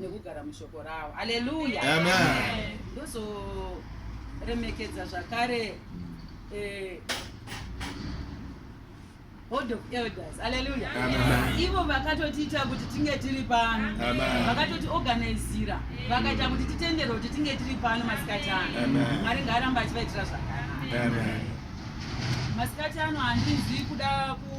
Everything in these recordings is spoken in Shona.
nekugara mushoko rawo aleluya ndozoremekedza zvakare eh, board of elders aleluya ivo vakatotiita kuti tinge tiri pano vakatoti organizira vakaita kuti titendere kuti tinge tiri pano masikati ano mwari ngaaramba achivaitira zvakanaka masikati ano handizi kuda ku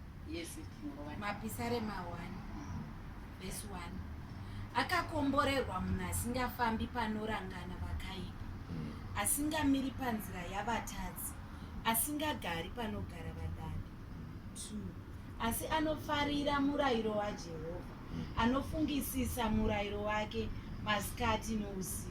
Yes, mapisarema 1 vhesi 1 akakomborerwa munhu asingafambi panorangana vakaipa mm. asingamiri panzira yavatadzi asingagari panogara vadadi 2 asi anofarira murayiro wajehovha anofungisisa murayiro wake masikati nousiku.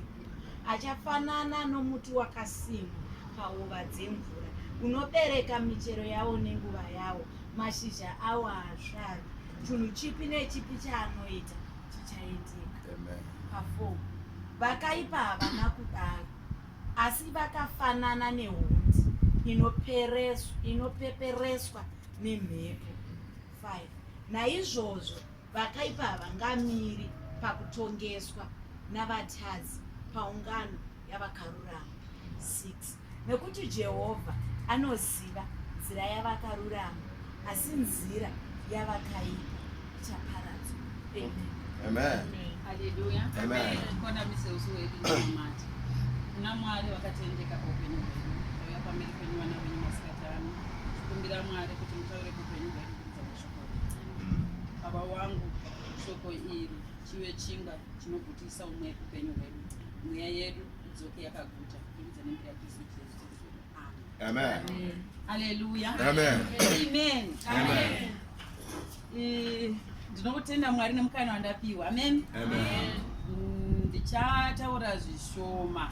Achafanana nomuti wakasimwa pahova dzemvura, unobereka michero yawo nenguva yawo, mashizha awo haasvari. Chinhu chipi nechipi chaanoita chichaitika. Pafo vakaipa havana kudaro, asi vakafanana nehundi inopepereswa nemhepo. 5 naizvozvo vakaipa havangamiri pakutongeswa navatadzi paungano yavakarurama 6 nekuti jehovha anoziva nzira yavakarurama asi nzira yavakaipa ichaparadzwa kuna mwari vakatendeka paupenyu hwenyu auya pamberi penyu vana venyu masikatano tikumbira mwari kuti mutaure upenyu hwedu kubva mashoko aKudzamira. Baba wangu, shoko iri chive chinga chinogutisa umwe upenyu hwedu, mweya yedu idzoke yakaguta kubudikidza nemhuri yaKristu Jesu. Amen. Amen. Hallelujah. Amen. Amen. Amen. Eh, Ndinokutenda Mwari nemukana wandapiwa. Amen. Amen. Mm, Ndichataura zvishoma.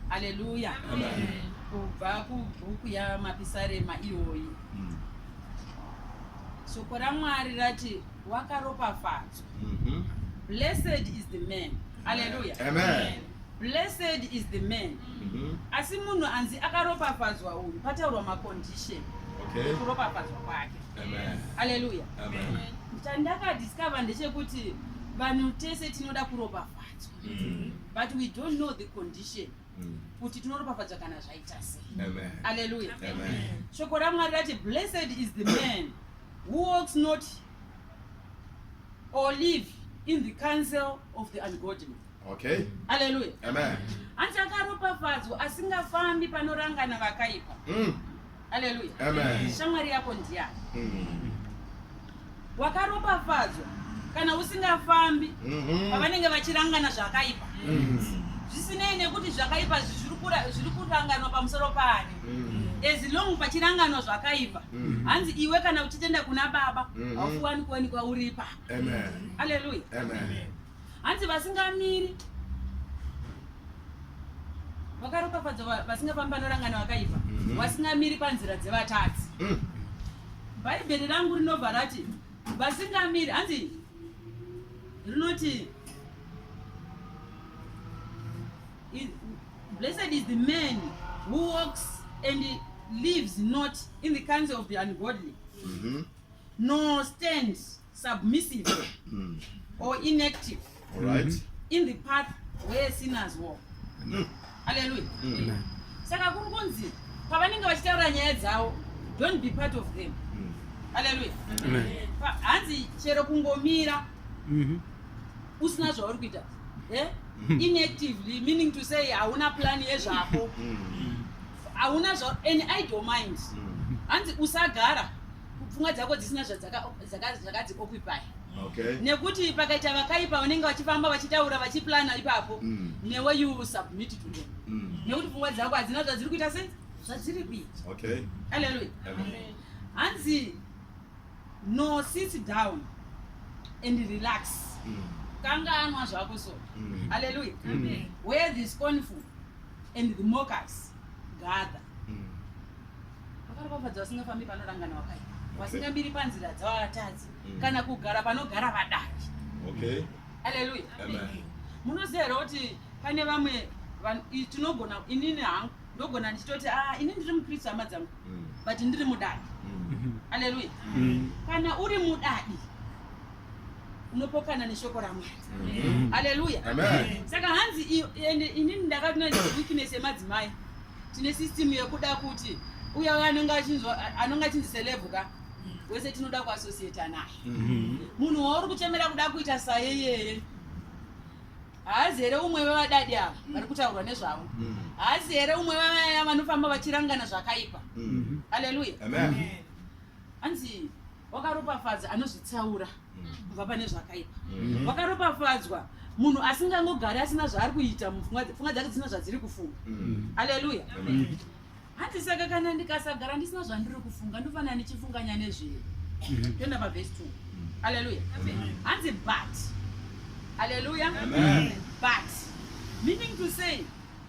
Hallelujah. Amen. Kubva kubhuku yaMapisarema iyoyi. mm. Soko raMwari rati wakaropafadzwa. Mm -hmm. Blessed is the man. Hallelujah. Amen. Amen. Blessed is the man. Mm -hmm. Asi munhu anzi akaropafadzwa uyu pataurwa macondition. Okay. Kuropafadzwa kwake. Amen. Hallelujah. Amen. Chandakadiscover ndechekuti vanhu tese tinoda kuropafadzwa. Mm -hmm. But we don't know the condition. mm. kuti tinoropafadzwa kana zvaita sei aleluya shoko ramwari rati blessed is the man who walks not or live in the council of the ungodly okay aleluya hanzi akaropafadzwa asingafambi panorangana vakaipa mm. Haleluya. Amen. Shamwari yako ndiyani? Mm. Wakaropafadzwa kana usingafambi mm-hmm. pavanenge vachirangana zvakaipa. Mm. Zvisinei nekuti zvakaipa zviri kuranganwa pamusoro paani. Mm. As long pachiranganwa zvakaipa. Mm. Hanzi iwe kana uchitenda kuna baba, mm-hmm. haufuwani kuwanikwa uri ipapo. Amen. Haleluya. Amen. hanzi vasingamiri vakaropafadzwa vasingafambi vanorangana vakaipa mhm. vasingamiri panzira dzevatadzi mm. bhaibheri rangu rinobva rati vasingamiri hanzi rinoti blessed is the man who walks and lives not in the council of the ungodly mm -hmm. nor stands submissive mm. or inactive right. mm -hmm. in the path where sinners walk mm. haleluya mm. mm. saka kuri kunzi pavanenge vachitaura nyaya dzavo don't be part of them mm. haleluya mm. hanzi chero kungomira mm -hmm. usina zvauri kuita eh? mm. inactively meaning to say hauna plani yezvako mm. hauna zva and i don't mind mm. hanzi usagara pfungwa dzako dzisina zvadzakadzioccupy nekuti pakaita vakaipa vanenge vachifamba vachitaura vachiplana ipapo mm. newe you submit to them mm. nekuti pfungwa dzako hadzina zvadziri kuita se zvadziri kuita aleluya hanzi no sit down and relax mm. kanganwa zvako so aleluya where this confu and the mockers gather mm. vakaropafadza vasingafambi panorangana wakaipa vasingamiri panzira dzavatadzi mm. kana kugara panogara vadaki okay haleluya munoziva here kuti pane vamwe tinogona inini hangu ndogona ndichitoti a ah, ini ndiri mukristu hama dzangu mm. but ndiri mudadi mm. haleluya mm. kana uri mudadi unopokana neshoko ramwari haleluya saka hanzi ende inini ndakatinoweakness yemadzimai tine system yekuda kuti uya uya anenge achinzi celebhu ka wese tinoda kuassociata naye mhm. munhu wauri kuchemera kuda kuita saye yere haazi here umwe vevadadi ava mm. vari kutaurwa nezvavo mm. haazi here umwe vevaya vanofamba vachirangana zvakaipa mm. haleluya hanzi wakaropafadza anozvitsaura kubva pane zvakaipa Mhm. wakaropafadzwa munhu asingangogari asina zvaari kuita mupfungwa dze- pfungwa dzake dzina zvadziri kufunga Mm. haleluya Amen. hanzi saka kana ndikasagara ndisina zvandiri kufunga ndofanira ndichifunganya nezvei toenda pavhesi 2 haleluya hanzi but haleluya Amen. but meaning to say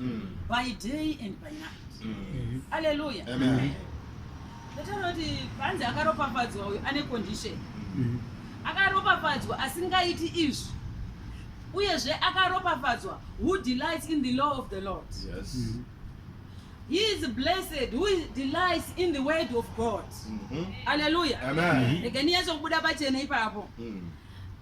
mm. by day and by night mm. mm. alleluya ndataura kuti panzi akaropafadzwa uyu ane condition mm. akaropafadzwa asingaiti izvi uyezve akaropafadzwa who delights in the law of the lord yes. mm -hmm. He is blessed who delights in the word of God. Mm -hmm. Hallelujah. Amen. Mm -hmm.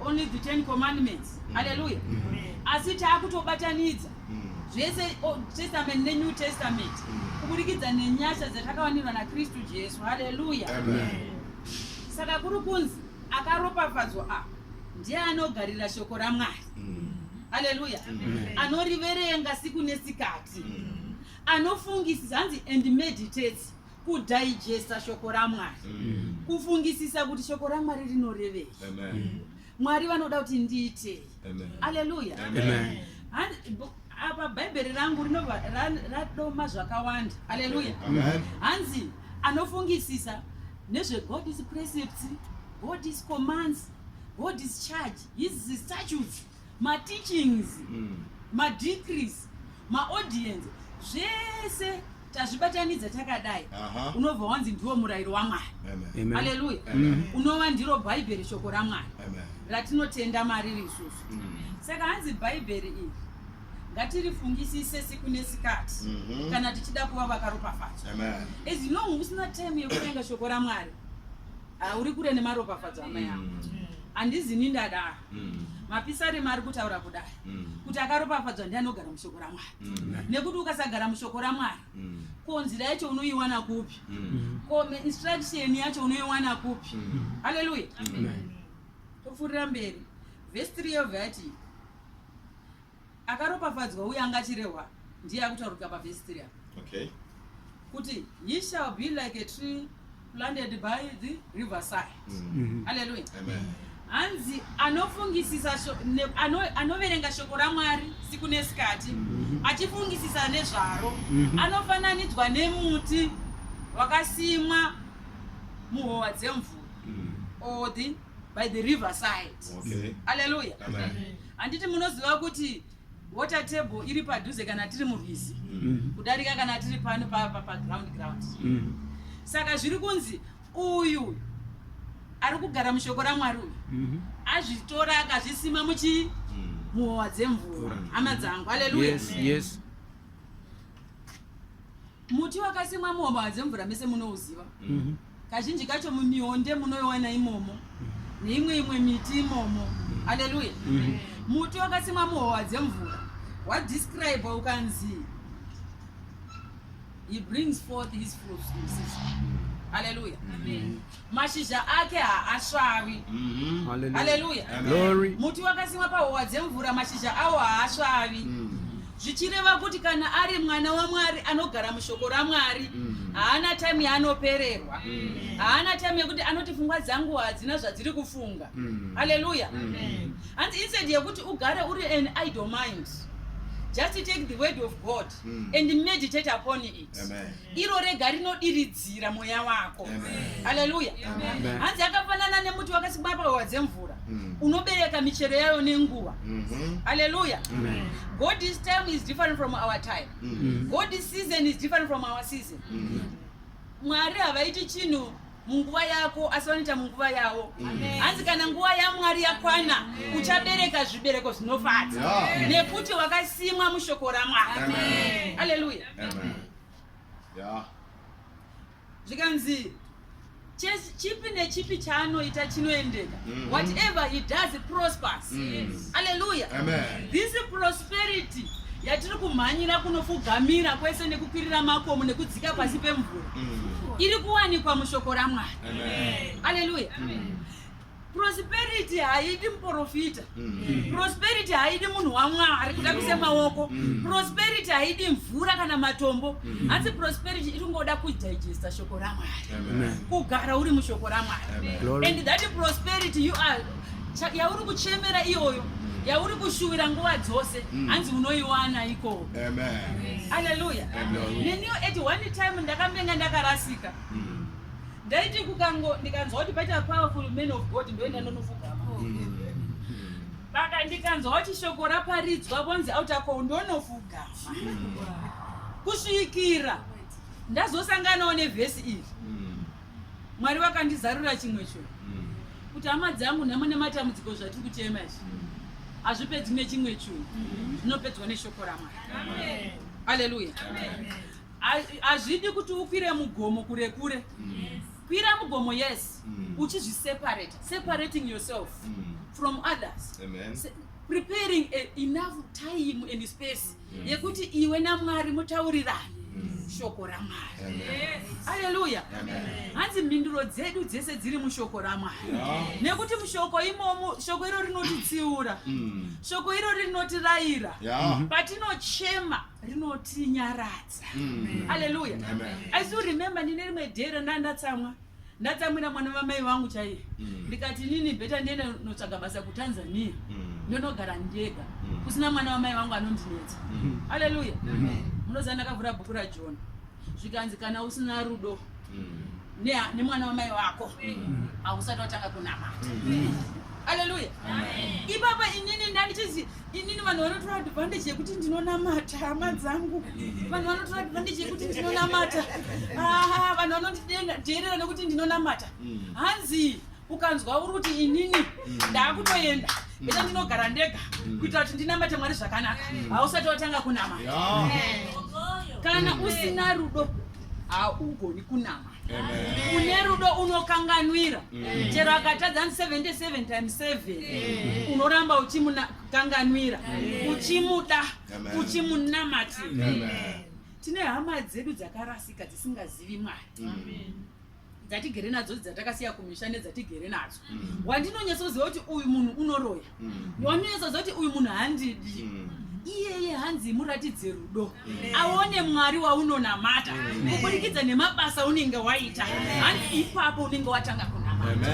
only the ten commandments mm. haleluya mm. asi taakutobatanidza mm. zvese old testament nenew testament kuburikidza nenyasha dzatakawanirwa nakristu jesu haleluya saka kuri kunzi akaropafadzwa apa ndiye anogarira shoko ramwari haleluya anoriverenga siku nesikati anofungisisa hanzi and meditates kudigesta shoko ramwari mm. kufungisisa kuti shoko ramwari rinorevei mm. mwari vanoda kuti ndiitei aleluya apa bhaibheri rangu rinova radoma zvakawanda aleluya hanzi anofungisisa nezvegod is precepts god is commands god is charge his statutes mateachings mm. madecrees maaudience zvese tazvibatanidza takadai unobva wanzi ndiwo murayiro wamwari aleluya mm. unova ndiro bhaibheri shoko ramwari ratinotenda mariri isusu mm. saka hanzi bhaibheri iri ngatirifungisise siku nesikati mhm. kana tichida kuva vakaropafadzwa as long usina time yekuvenga shoko ramwari Ah, uri kure nemaropafadzo amai angu mm. handizi ni ndadaro mm. mapisarema ari kutaura kudai mm. kuti akaropafadzwa ndi anogara mushoko ramwari nekuti ukasagara mushoko ramwari ko nzira yacho unoiwana kupi ko instruction yacho unoiwana kupi haleluya topfuurira mberi vhesi 3 yobva yati akaropafadzwa uye anga achirehwa ndiye akutaurika pavhesi tiri apa okay kuti he shall be like a tree planted by the river side mm. haleluya hanzi anofungisisa anoverenga ano shoko ramwari siku nesikati mm -hmm. achifungisisa nezvaro mm -hmm. anofananidzwa nemuti wakasimwa muhowa dzemvura mm. or the by the river side okay. aleluya handiti munoziva kuti water table iri padhuze kana tiri murwizi mm. kudarika kana tiri pano paground ground mm. saka zviri kunzi uyu ari kugara mushoko ramwari uyu mm-hmm. azvitora akazvisima muchi mm. muhowa dzemvura hama dzangu aleluya Muti wakasimwa muhova dzemvura mese munouziva. Mhm. Kazhinji kacho mumionde munoiwana imomo mhm. neimwe imwe miti imomo. Mhm. Haleluya. Muti wakasimwa muhova dzemvura wadescribe ukanzi he brings forth his fruits in season. Haleluya. mashizha ake haasvavi mm-hmm. haleluya muti wakasimwa pahowa dzemvura mashizha awo haasvavi mm. zvichireva kuti kana ari mwana wamwari anogara mushoko ramwari mm. haana time yaanopererwa mm. haana time yekuti anoti fungwa dzangu hadzina zvadziri kufunga haleluya hanzi instead yekuti ugare uri an idle mind just take the word of god and meditate upon it iro rega rinodiridzira mweya wako haleluya hanzi yakafanana nemuti wakasimwa pahova dzemvura mm. unobereka michero yayo nenguva mm-hmm. haleluya god is time is different from our time mm-hmm. god is season is different from our season mm-hmm. mwari havaiti chinhu munguva yako asi vanoita munguva yavo hanzi kana nguva yamwari yakwana uchabereka zvibereko zvinofadza nekuti wakasimwa mushoko ramwari haleluya ya zvikanzi church chipi nechipi chaanoita chinoendeka Mhm. whatever he does it prospers Mm. haleluya Amen. this prosperity yatiri kumhanyira kunofugamira kwese nekukwirira makomo nekudzika pasi pemvura Mm. iri kuwanikwa mushoko ramwari Amen. haleluya prosperity haidi muprofita mm. prosperity haidi munhu wamwari kutambisa mm. maoko mm. prosperity haidi mvura kana matombo mm. hanzi mm. prosperity iri kungoda kudigesta shoko ramwari kugara uri mushoko ramwari and that prosperity you are yauri kuchemera iyoyo mm. yauri kushuvira nguva dzose mm. hanzi unoiwana ikoo aleluya neniyo at one time ndakambenga ndakarasika mm. ndaiti kukango ndikanzwa kuti paita powerful man of god ndoenda ndonofugama baka ndikanzwa kuti shoko raparidzwa vonzi autako ndonofugama kusvikira ndazosanganawo nevhesi iri mwari vakandizarura chimwe cho kuti hama dzangu nhamo nematambudziko zvatiri kuchema izvi hazvipedzi nechimwe chunhu zvinopedzwa neshoko ramwari aleluya hazvidi kuti ukwire mugomo kure kure yes. kwira mugomo yes mm. uchizviseparate separating yourself mm. from others Amen. Se preparing a, enough time and space mm. yekuti iwe namwari mutaurirani mm. shoko ramwari aleluya hanzi mhinduro dzedu dzese dziri mushoko ramwari yes. nekuti mushoko imomo shoko iro rinotitsiura mm. shoko iro rinotirayira yeah. patinochema rinotinyaradza mm. aleluya i still remember ndine rimwe day randa ndatsamwa ndatsamwira mwana vamai vangu chaiye mm. ndikati nini bheta ndienda notsvaga basa kutanzania mm. ndonogara ndega kusina mwana vamai vangu anondinetsa aleluya munoziva ndakavhura bhuku rajona zvikanzi kana usina rudo nemwana wamai wako hausati watanga kunamata aleluya ipapa inini ndandichizi inini vanhu vanotora advantage yekuti ndinonamata hama dzangu vanhu vanotora advantage yekuti ndinonamata aa vanhu vanondidheerera nekuti ndinonamata mm. hanzi ukanzwa uri kuti inini mm. ndaakutoenda mm. ita ndinogara ndega kuitira kuti ndinamate mwari zvakanaka hausati watanga kunamata kana usina rudo haugoni kunama une rudo unokanganwira mm. chero akatadza ni 77 times 7 mm. unoramba uchimukanganwira mm. uchimuda uchimunamati tine hama dzedu dzakarasika dzisingazivi mwari dzatigere nadzo dzatakasiya kumisha nedzatigere nadzo wandinonyatsoziva kuti uyu munhu unoroya mm. wanonetsa zoti uyu munhu handidi mm. iyeye hanzi muratidze rudo aone mwari waunonamata kuburikidza nemabasa unenge waita hanzi ipapo unenge watanga kunamata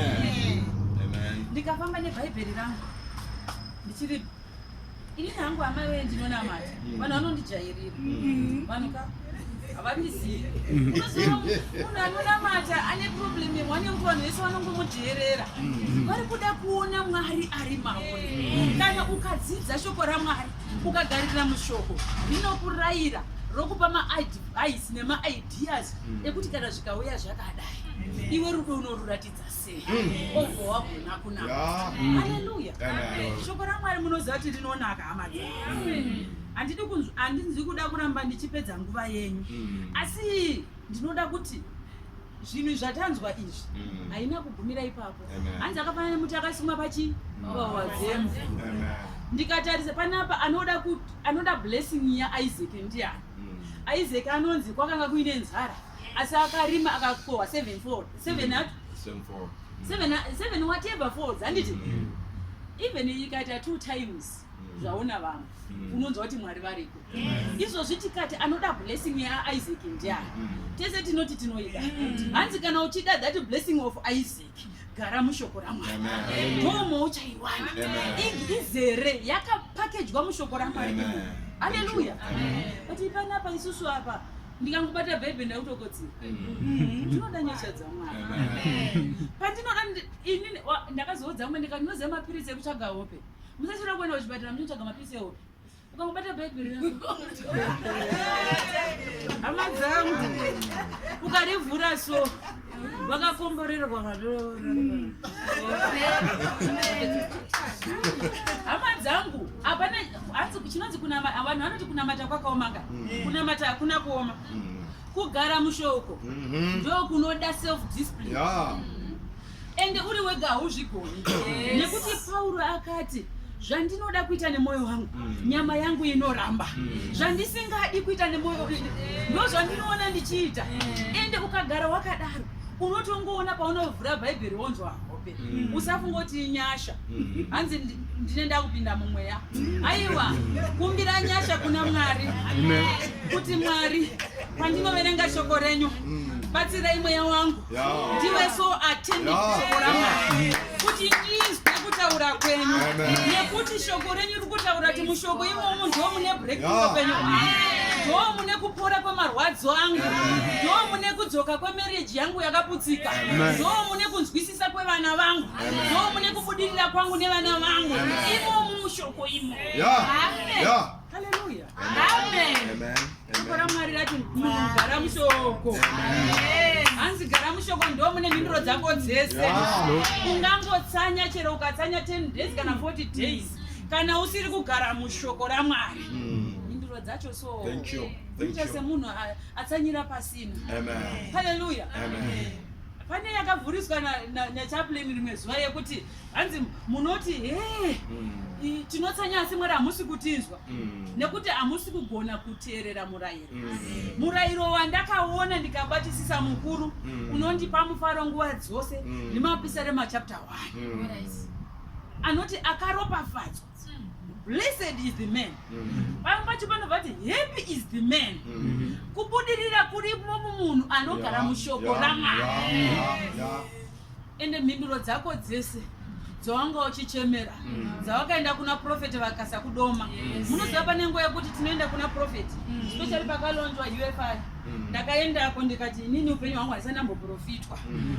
ndikafamba nebhaibheri rangu ndichiri ini hangu amai wee ndinonamata vanhu vanondijairira vanhu ka havamizivi munhu anonamata ane problem yemhanya yekuti vanhu vese vanongomudheerera mm-hmm. vari kuda kuona mwari ari maone mm-hmm. kana ukadzidza shoko ramwari ukagarira mushoko rinokurayira rokupa maadvice nemaideas mm-hmm. ekuti kana zvikauya zvakadai iwe rudo unorurati shoko ramwari munoziva kuti rinonaka hama handidi kunzwa handinzwi kuda kuramba ndichipedza nguva yenyu mm. asi ndinoda kuti zvinhu zvatanzwa izvi mm. haina kugumira ipapo hanzi akafanana nemuti akasimwa pachi pawazemu ndikatarisa panapa anoda anoda blessing yaisak ndiani mm. isaac anonzi kwakanga kuine nzara asi akarima akakohwa seven fold seven at seven fold seven seven whatever folds handiti mm. even ikaita two times mm. zvaona vamwe mm. unonzwa kuti mwari variko izvozvi tikati anoda blessing yaisaac ndiani tese tinoti tinoida hanzi kana uchida that blessing of isaac gara mushoko ramwari ndomo uchaiwana izere yakapakejwa mushoko ramwari aleluya but ipanapa isusu apa ndikangobata bhebhe ndakutokodzera mm-hmm. ndinoda nyasha dzamwari pandinoda ini ndakazoudza mwe ndikati ndinoziva mapiritsi ekutsvaga hope musachira kuenda kuchipatara muchitsvaga mapiritsi ehope ukangobata bhebhe hama dzangu ukarivhura so vakakomborerwa hama dzangu hapana hanzi chinonzi kunamata vanhu vanoti kunamata kwakaomaka mm. kunamata hakuna kuoma mm. kugara mushoko mm-hmm. ndo kunoda self discipline ende uri wega hauzvigoni nekuti pauro akati zvandinoda kuita nemwoyo wangu mm. nyama yangu inoramba mm. zvandisingadi kuita nemwoyo ndozvandinoona ndichiita mm. ende ukagara wakadaro unotongoona paunovhura bhaibheri wonzwa hope mm. usafunga kuti inyasha mm. hanzi ndine ndakupinda mumweya mm. aiwa kumbira nyasha kuna mwari kuti mwari pandinoverenga shoko renyu batsirai mweya wangu ndiwe so atendekuti ndizwe kutaura kwenyu nekuti shoko renyu ri kutaura kuti mushoko imomo ndo mune breakthrough kwenyu ndo mune kupora kwemarwadzo angu ndo mune kudzoka kwemereji yangu yakaputsika ndo mune kunzwisisa kwevana vangu ndo mune kubudirira kwangu nevana vangu imomo mushoko imo yeah. Yeah. Hallelujah. Amen. Amen. Amen. Mwari rati mugara mushoko. Hanzi gara mushoko ndo mune mhinduro dzako dzese. Ungangotsanya chero ukatsanya 10 days kana 40 days kana usiri kugara mushoko raMwari. Mm. Mhinduro dzacho so. Thank you. Thank you. Semunhu atsanyira pasina. Amen. Hallelujah. Amen. Pane yakavhuriswa na, na, na chaplain rimwe zuva yekuti hanzi munoti hee eh, mm. tinotsanya asi mwari hamusi kutinzwa mm. nekuti hamusi kugona kuteerera murayiro mm. murayiro wandakaona ndikabatisisa mukuru unondipa mufaro nguva dzose ndimapisa remachapter 1 anoti akaropafadzwa blessed is the man pamwe pacho panovati happy is the man kubudirira kurimo mumunhu anogara mushoko ramwari ende mhinduro dzako dzese dzawanga uchichemera mm. dzawakaenda kuna profeti vakasa kudoma munoziva pane nguva yekuti tinoenda kuna profeti mm. specially pakalonjwa ufi mm. ndakaendako ndikati inini upenyu hwangu haisandamboprofitwa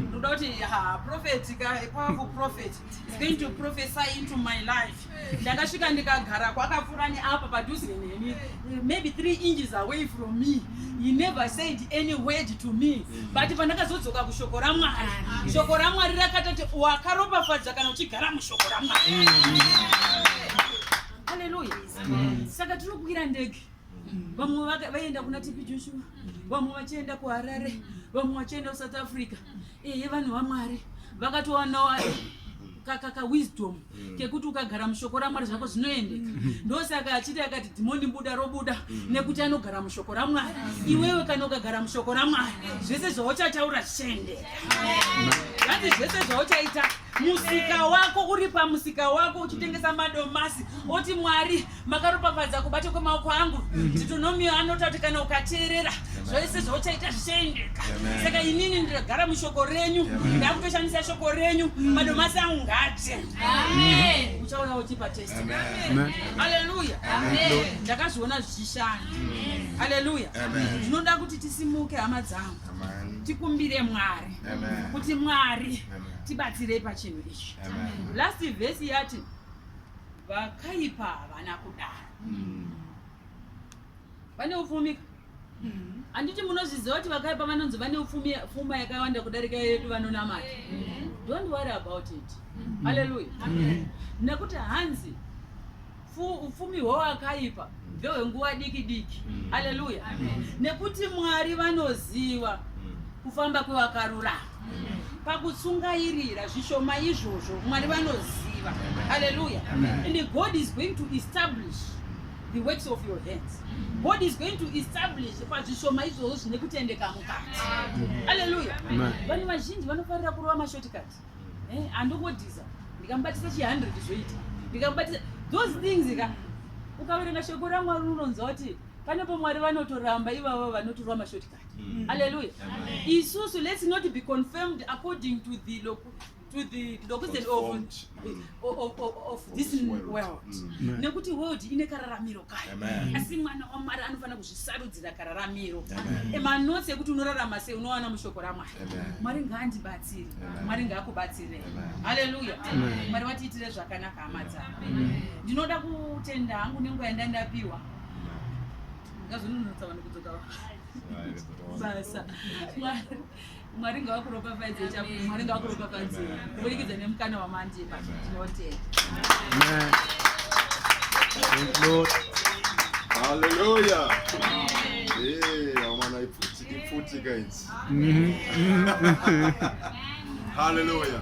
ndoda kuti ha profeti ka kwavo profeti is going to prophesy into my life ndakasvika ndikagara kwakapfuura neapo padhuze neni maybe three inches away from me he never said any word to me mm. but pandakazodzoka kushoko ramwari mm. shoko ramwari rakatati wakaropafadza kana uchigara mushoko ramwari mm. aleluya saka tinokwira ndege vamwe vaienda kuna tipi joshua vamwe vachienda kuharare vamwe vachienda kusouth africa eye vanhu vamwari vakatowanawo kakaka wisdom mm. kekuti ukagara mushoko ramwari zvako zvinoendeka mm. ndosaka achiti akati dhimoni buda robuda mm. nekuti anogara mushoko ramwari iwewe kana ukagara mushoko ramwari zvese zvauchataura zvichaendeka hanzi zvese zvauchaita musika wako uri pamusika wako uchitengesa madomasi oti mwari makaropafadza kubata kwemaoko angu titonomio mm-hmm. anoti kuti kana ukateerera zvese zvauchaita zvichaendeka saka inini ndagara mushoko renyu ndakutoshandisa shoko renyu mm. madomasi angu ngate uchauya uchipa test aleluya ndakazviona zvichishanda aleluya zvinoda kuti tisimuke hama dzangu tikumbire mwari kuti mwari tibatsirei pachinhu ichi last vhesi yati Vakaipa havana kudaro. Mm. Vane upfumi. Mm. Anditi munozviziva kuti vakaipa vanonzi vane upfumi pfuma yakawanda kudarika yedu vanonamata. Mm. Don't worry about it. Mm. Hallelujah. Amen. Nekuti hanzi upfumi hwewakaipa ndehwenguva diki diki. Mm. Hallelujah. Amen. Nekuti Mwari vanoziva kufamba kwevakarurama. pakutsungairira zvishoma izvozvo mwari vanoziva haleluya and god is going to establish the works of your hands god is going to establish pazvishoma izvozvo zvine kutendeka mukati haleluya vanhu vazhinji vanofarira kurova mashotikati eh, andokodhiza ndikamubatisa chi 100 zvoita ndikamubatisa those things ka ukaverenga shoko ramwari unonzwa kuti pane pomwari vanotoramba ivavo vanotorwa mashotikati Mm. Hallelujah. Amen. Isusu, let's not be confirmed according to the local to the location of, mm. of, of, of, of this world, world. Mm. nekuti world ine kararamiro kayo asi mwana wamwari anofanira kuzvisarudzira kararamiro emanotsi ekuti unorarama sei unowana mushoko ramwari mwari ngaandibatsire mwari ngaakubatsire haleluya mwari watiitire zvakanaka hama dzavo ndinoda kutenda hangu nenguva yandandapiwa ngazvinonotsa vanhu kudzoka basa mwari ngavakuropafadze chakuti mwari ngavakuropafadze kuburikidza nemukana wamandipa tinotenda haleluya amana ipfuti guys haleluya